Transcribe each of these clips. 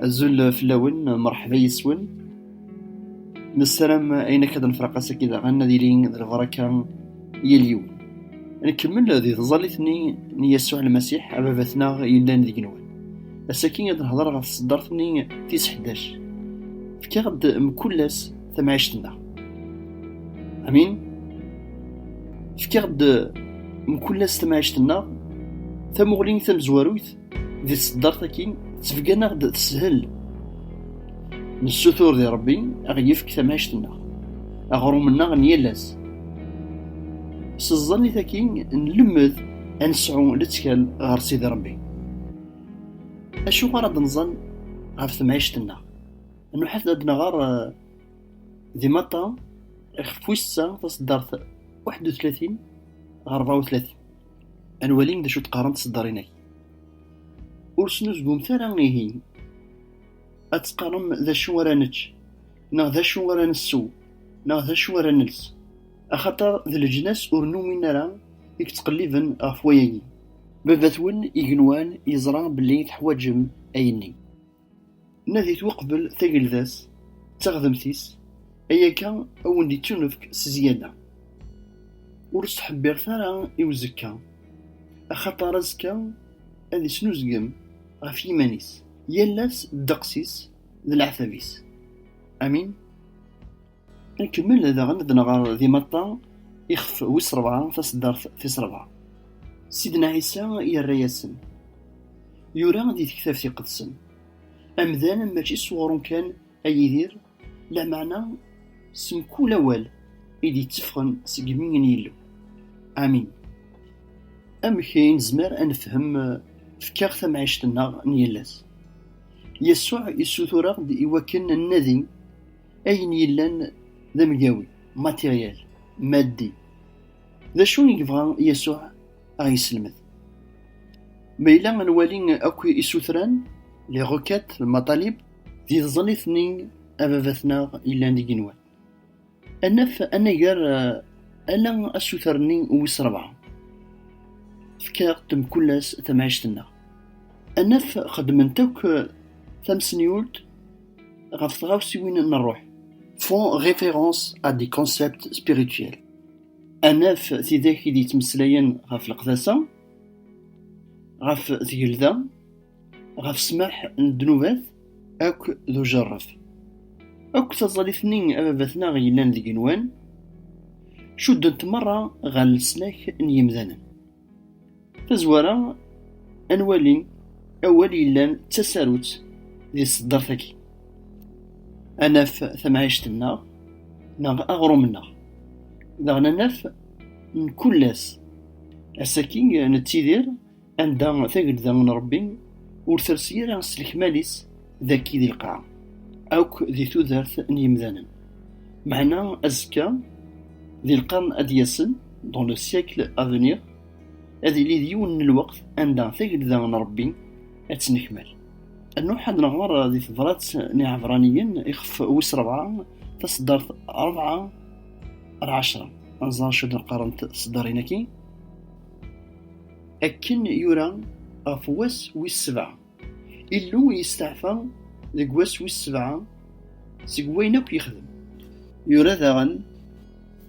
azul fell-awen merḥba yes-wen nessaram ayen akka d nefraq ass-agi daɣen ad ilin d lbaraka yal yiwen nkemmel di tẓallit-nni n Yasuɛ Lmasiḥ ababat-nneɣ yellan deg nwen ass-agi ad nehder ɣef tseddart-nni tis ḥdac fkiɣ-d mkul ass tamɛict-nneɣ. Amin? Fkiɣ-d mkul ass tamɛict-nneɣ tamuɣli tamezwarut di tseddart akin tebgan-aɣ-d teshel. Nessutur di Rebbi aɣ-yefk tamɛict-nneɣ, aɣrum-nneɣ n yal ass. S ẓẓan-it akin nlemmed ad nesɛu lettkal ɣer Sidi Rebbi. Acuɣer ad nẓan ɣef temɛict-nneɣ? Nruḥet ad nɣer eh, di Maṭa ixef wissa taseddart 31 ɣer 34 ad nwali d acu d-qqarent tseddarin-agi. Ur snuzgumt ara ihi ad teqqarem d acu ara nečč neɣ d acu ara nessew neɣ d acu ara nels axaṭer d leǧnas ur numin ara i yettqelliben ɣef wayagi. Baba-twen igenwan yeẓra belli teḥwaǧem ayenni. Nadit uqbel tagelda-s d teɣdemt-is, ayakka a wen-d-ittunefk s zzyaada. Ur ttḥebbiret ara i uzekka, axaṭer azekka ad isnuzgem ɣef yiman-is, yal ass ddeqs-is d leɛtab-is. Amin. Nkemmel daɣen ad nɣer di Matta, ixef wis rebɛa, taseddart tis rebɛa. Sidna Ɛisa yerra-yasen, yura di tektabt iqedsen, Amdan mačči s uɣrum kan ay idir, lameɛna s mkul awal i d-yetteffɣen seg imi n Yillu. Amin. Amek i nezmer ad nefhem fkiɣ tamɛict-nneɣ n yal ass? Yasuɛ yessutur-aɣ-d iwakken ad nnadi Ayen yellan d amgawi, matériel, maddi. D acu i yebɣa Yasuɛ a ɣ-yesselmed? Ma yella ad nwali akk isutran, les requêtes, le matalib, di tẓallit-nni Ababat-nneɣ yellan d igenwan, ad naf anagar ala asuter-nni wis rebɛa, Fek-aɣ-d mkul ass tamɛict-nneɣ. Ad naf xeddment akk tamsenyult, font référence à des concepts spirituels. Anaf tidak i d-yettmeslayen ɣef leqdasa, ɣef tgelda, ɣef ssmaḥ n ddnubat akk d ujerref. Akk taẓallit-nni ababat-nneɣ yellan deg yigenwan, cuddent merra ɣer leslak n yimdanen. Tazwara, ad nwali awal yellan d tasarut di tseddart-agi. Ad naf tamɛict-nneɣ neɣ aɣrum-nneɣ. Daɣen ad naf mkul ass. Ass-agi nettidir anda Tagelda n Ṛebbi ur tersi ara s lekmal-is. dagi di lqaɛa akk di tudert n yimdanen meɛna azekka di lqern ad d-yasen dans le siècle à venir ad yili d yiwen n lweqt anda tagelda n Rebbi ad tennekmal ad nruḥ ad nɣer di tebrat n Iɛebraniyen ixef wis rebɛa taseddart rebɛa ar ɛecra ad nẓer acu d qqarent tseddarin-agi akken yura ɣef wass wis sebɛa Illu yesteɛfa deg wass wis sebɛa seg wayen akk yexdem. Yura daɣen,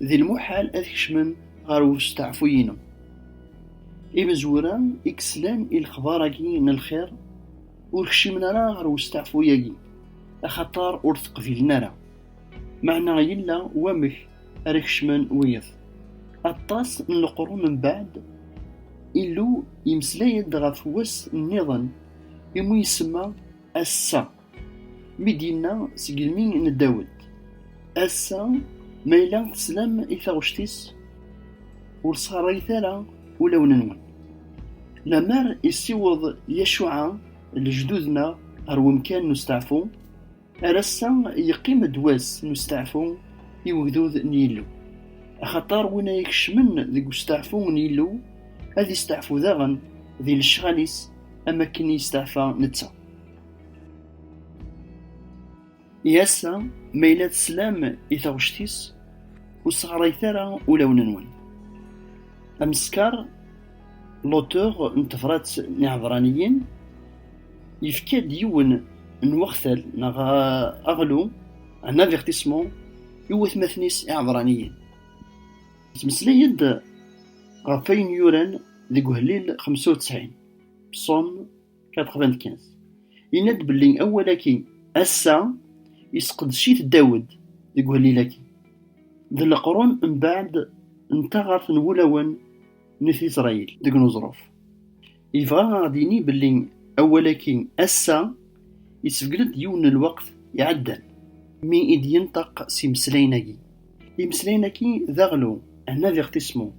D lmuḥal ad kecmen ɣer usteɛfu-inu. Imezwura i yeslan i lexbar-agi n lxir ur kcimen ara ɣer usteɛfu-agi, axaṭer ur t-qbilen ara. Meɛna yella wamek ara kecmen wiyeḍ. Aṭas n leqrun mbeɛd, Illu yemmeslay-d ɣef wass nniḍen iwmi isemma Ass-a, mi d-yenna seg yimi n Dawed, Ass-a, ma yella teslam i taɣect-is, ur sxerrayet ara ulawen-nwen. Lemmer isiweḍ Yacuɛa lejdud-nneɣ ɣer wemkan n usteɛfu, Ar ass-a yeqqim-d wass n usteɛfu i ugdud n Yillu, axaṭer win ay ikecmen deg usteɛfu n Yillu ad yesteɛfu daɣen di lecɣal-is am wakken i yesteɛfa netta. I ass-a, ma yella teslam i taɣect-is, ur sseɣrayet ara ulawen-nwen. Ameskar L'auteur n tebṛat n Iɛebraniyen yefka-d yiwen n wextal neɣ aɣlu, un avertissement, i watmaten-is Iɛebraniyen. Yettmeslay-d ɣef wayen yuran deg Uhlil xemsa u ttɛin, Psaume 95. Yenna-d belli awal-agi, ass-a, yesqedec-it Dawed deg uhlil-agi. D leqrun mbeɛd n taɣaṛt n wulawen. n Isṛayil deg uneẓruf. Yebɣa ad ɣ-d-yini belli awal-agi ass-a yessebgel-d yiwen n lweqt iɛeddan mi i d-yenṭeq s imeslayen-agi. Imeslayen-agi d aɣlu, un avertissement,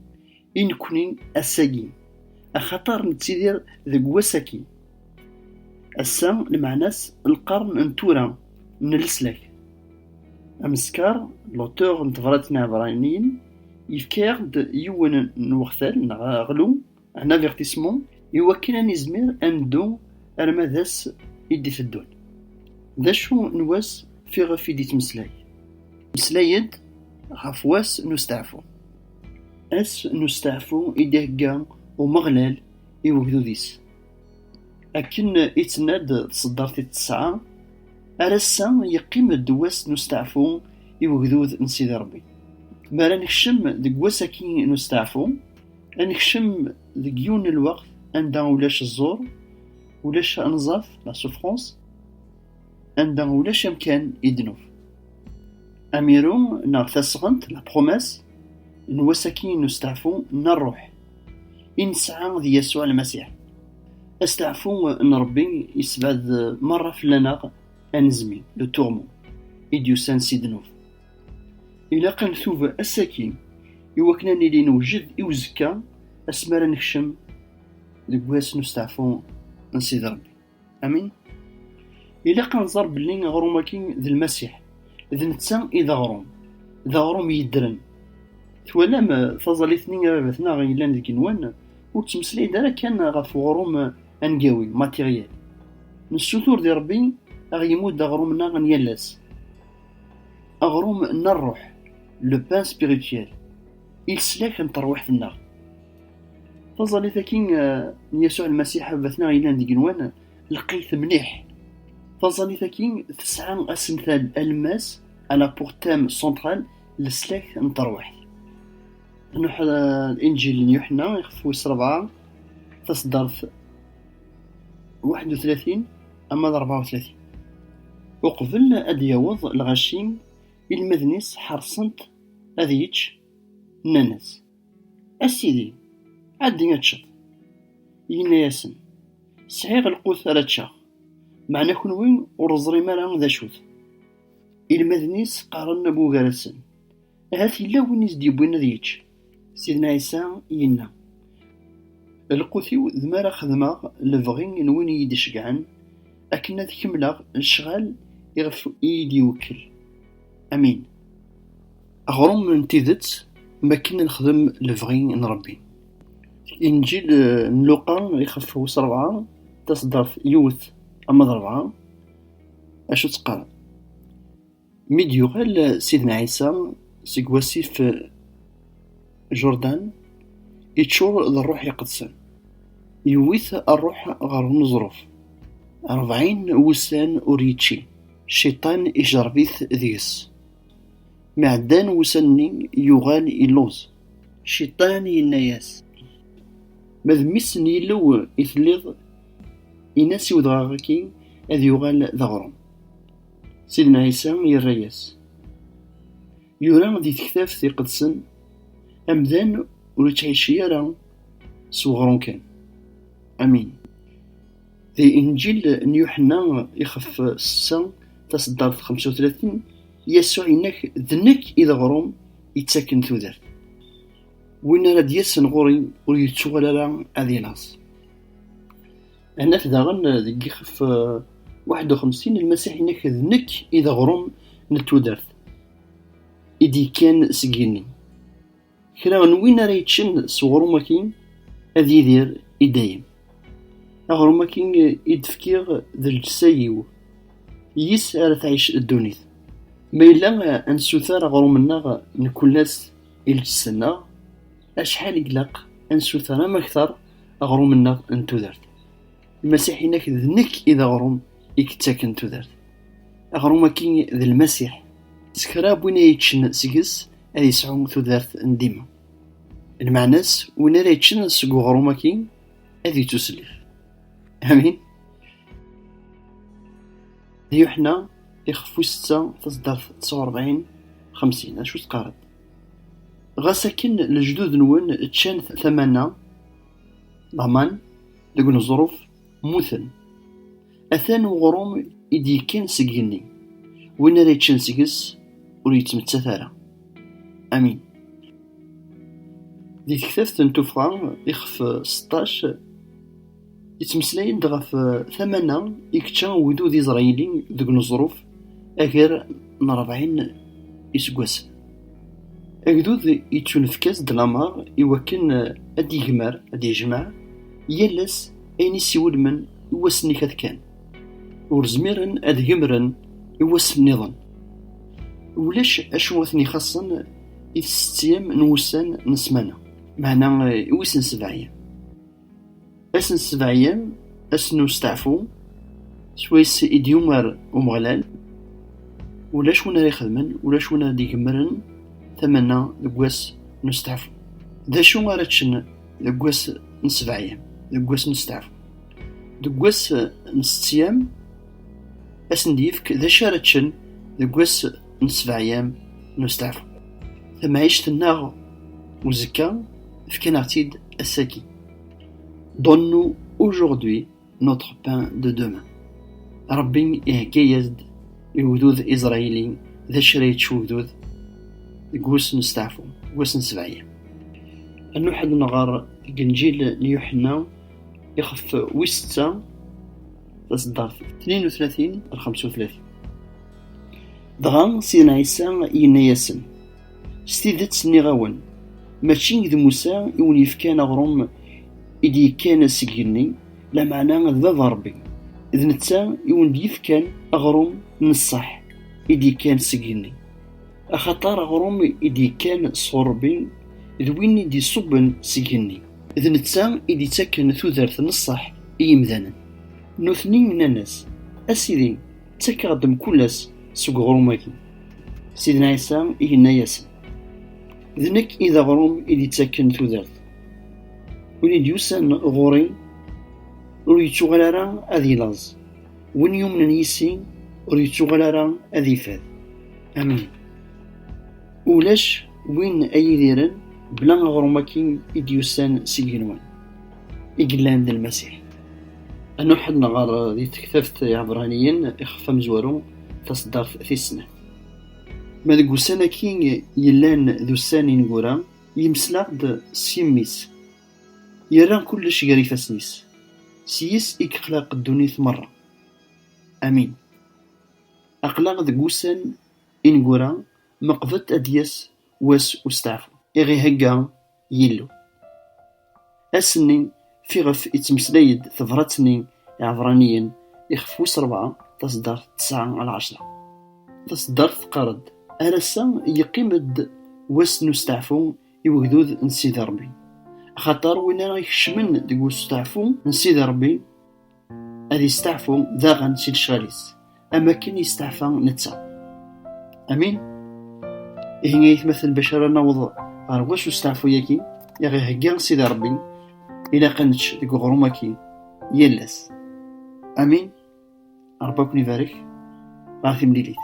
i nekkni ass-agi, axaṭer nettidir deg wass-agi. Ass-a lmeɛna-s lqern n tura n leslak. Ameskar, l'auteur, n tebṛatin n Ɛebraniyen, Yefka-aɣ-d yiwen n wextal neɣ aɣlu, un avertissement, iwakken ad nizmir ad neddu arma d ass i d-iteddun. D acu n wass fiɣef i d-yettmeslay? Meslay-d ɣef wass n usteɛfu. Ass n usteɛfu i d-ihegga Umeɣlal i ugdud-is. Akken i tt-nna-d tseddart i tesɛa, ar ass-a yeqqim-d wass n usteɛfu i ugdud n Sidi Ṛebbi. Mi ara nekcem deg wass-agi n usteɛfu, ad nekcem deg yiwen n lweqt anda ulac ẓẓur, ulac anẓaf, la souffrance, anda ulac amkan i d-nuf. Amiru neɣ tasɣent, la promesse, n wass-agi n usteɛfu n ṛṛuḥ i nesɛa d Yasuɛ Lmasiḥ. Asteɛfu n Ṛebbi yessebɛed meṛṛa fell-aneɣ anezmi, le tourment, i d-yusan si ddnub. Ilaq ad ntub ass-agi i wakken ad nili newjed i uzekka asmi ara nekcem deg wass n usteɛfu n Sidi Ṛebbi. Amin. Ilaq ad nẓer belli aɣrum-agi d Lmasiḥ, d netta i d aɣrum, d aɣrum yeddren. Twalam taẓallit-nni a baba-tneɣ yellan deg yigenwan, ur ttmeslay-d ara kan ɣef uɣrum angawi, matériel. Nessutur di Rebbi a ɣ-yemmudd aɣrum-nneɣ n yal ass, aɣrum n rruḥ, le pain spirituel, i leslak n terwiḥt-nneɣ. Taẓallit-agi eh, n Yasuɛ Lmasiḥ Abatneɣ yellan deg nwan, lqayet mliḥ. Taẓallit-agi tesɛa asental alemmas, à la pour thème central, leslak n terwiḥt. Nuḥ Inǧil n Yuḥenna, ixef wis rebɛa, taseddart 31 ama d 34. Uqbel ad d-yaweḍ lɣaci, ilmaden-is ḥeṛṣen-t ad yečč, nnan-as. A Sidi, ɛeddi ad teččeḍ. Yenna-yasen, Sɛiɣ lqut ara ččeɣ, meɛna kenwi ur teẓrim ara d acu-t. Ilmaden-is qqaren bugar-asen, Ahat yella win i s-d-yewwin ad yečč. Sidna Ɛisa yenna, Lqut-iw d mi ara xedmeɣ lebɣi n win i yi-d-iceggɛen, akken ad kemmleɣ lecɣal iɣef i yi-d-iwekkel. Amin. Aɣrum n tidet mi akken ad nexdem lebɣi n Ṛebbi. Inǧil n Luqa ixef wis ṛebɛa, taṣeddart yiwet ama d ṛebɛa, acu tt-qqaren? Mi d-yuɣal Sidna Ɛisa seg wasif Jurdan, iččur d ṛṛuḥ iqedsen, yewwi-t ṛṛuḥ ɣer uneẓruf, ṛebɛin wussan ur yečči, Cciṭan ijerreb-it deg-s. Mi ɛeddan wussan-nni, yuɣal illuẓ. Cciṭan yenna-yas, Ma d mmi-s n Yillu i telliḍ, in-as i wedɣaɣ-agi ad yuɣal d aɣrum. Sidna Ɛisa yerra-yas, Yura di Tektabt iqedsen, Amdan ur ittɛicci ara s weɣrum kan. Amin. Di Inǧil n Yuḥenna ixef sessa taseddart xemsa u tlatin. Yasuɛ yenna-k, D nekk i d aɣrum yettaken tudert. Win ara d-yasen ɣur-i ur yettuɣal ara ad ilaẓ. Hennat daɣen deg yixef 51, Lmasiḥ yenna-k, D nekk i d aɣrum n tudert, i d-yekkan seg yigenni. Kra n win ara yeččen s uɣrum-agi ad yidir i dayem. Aɣrum-agi i d-fkiɣ d lǧessa-iw, yis ara tɛic ddunit. Ma yella ad nsuter aɣrum-nneɣ nekkul ass i lǧessa-nneɣ, acḥal i ilaq ad nsuter amakter aɣrum-nneɣ n tudert. Lmasiḥ-inek d nekk i d aɣrum i yettaken tudert. Aɣrum-agi d Lmasiḥ. S kra n win ay yeččen seg-s, ad yesɛu tudert n dima lmeɛna-s win ara yeččen seg uɣrum aki ad yettuslef amin d yuḥna ixef wis setta taseddart tisa urebɛin xemsin acu teqqareḍ ɣas akken lejdud-nwen ččan tamanna laman deg uneẓruf mmuten Atan uɣrum i d-yekkan seg igenni, win ara yeččen seg-s ur yettmettat ara. Amin. Di tektabt n tuffɣa ixef seṭṭac, yettmeslay-d ɣef tamana i yečča ugdud iẓrayili deg uneẓruf agar n rebɛin iseggasen. Agdud yettunefk-as-d lameṛ i wakken ad d-yegmer, ad d-yejmeɛ, yal ass, ayen i s-iwulmen i wass-nni kat kan, ur zmiren ad gemren i wass-nniḍen. Ulac acu i ten-ixaṣṣen i tsettyam n wussan n ssmana, meɛna i wis n sebɛyam. Ass n sebɛyam, ass n usteɛfu, s wayes i d-yumer Umeɣlal, ulac win ara ixedmen, ulac win ara d-igemren tamana deg wass n usteɛfu. D acu ara ččen? deg wass n sebɛyam deg wass n steɛfu deg wass n settiyam asen d-yefk d acu ara ččen deg wass n sebɛyam n usteɛfu tamɛict-nneɣ uzekka fkan-aɣ-tt-id ass-agi donnu aujourd'hui notre pain de demain. Rabbi ihegga-yas-d i ugdud iẓrayili d acu ara yečč ugdud deg wass n steɛfu, wass n sebɛiya. Ad nruḥ ad nɣer deg Inǧil n Yuḥenna ixef wis setta taṣeddart 32 ar 35. Dɣa Sidna Ɛisa yenna-yasen. S tidet nniɣ-awen, mačči d Musa i wen-yefkan aɣrum i d-yekkan seg igenni, lameɛna d Baba Ṛebbi, d netta i wen-d-yefkan aɣrum n ṣṣeḥ i d-yekkan seg igenni. Axaṭer aɣrum i d-yekkan sɣur Ṛebbi d win i d-iṣubben seg igenni. D netta i d-ittaken tudert n ṣṣeḥ i yimdanen. Nutni nnan-as, A Sidi! ttakeɣ-d mkul ass seg uɣrum-agi. Sidna Ɛisa i yenna-yasen, D nekk i d aɣrum i d-ittaken tudert. Win i d-yusan ɣur-i ur yettuɣal ara ad ilaẓ, win yumnen yis-i ur yettuɣal ara ad ifad. Amin. Ulac win ay idiren bla aɣrum-agi i d-yusan seg yigenwan. i yellan d Lmasiḥ. Ad nuḥed nɣer di tektabt Iɛebraniyen ixef amezwaru taseddart tis snat. Ma deg ussan-agi yellan d ussan ineggura, yemmeslaɣ-d s yimi-s, yerra kullec gar ifassen-is, s yis i yexlaq ddunit merra. Amin. Aql-aɣ deg wussan ineggura, meqbet ad d-yas wass usteɛfu. I ɣ-ihegga Yillu. Ass-nni fiɣef ittmeslay-d tebrat-nni Iɛebraniyen ixef wis rebɛa, taseddart tesɛa al ɛecra. Taseddart teqqar-d, Ar ass-a yeqqim-d wass n usteɛfu i wegdud n Sidi Rebbi, axaṭer win ara ikecmen deg usteɛfu n Sidi Rebbi, ad isteɛfu daɣen si lecɣal-is am akken isteɛfa netta. Amin? Ihi ayetmaten bac ara naweḍ ɣer wacu usteɛfu-yagi i ɣ-ihegga Sidi Ṛebbi, ilaq ad nečč deg uɣrum-agi yal ass. Amin? Ṛebbi ad ken-ibarek ɣer timlilit.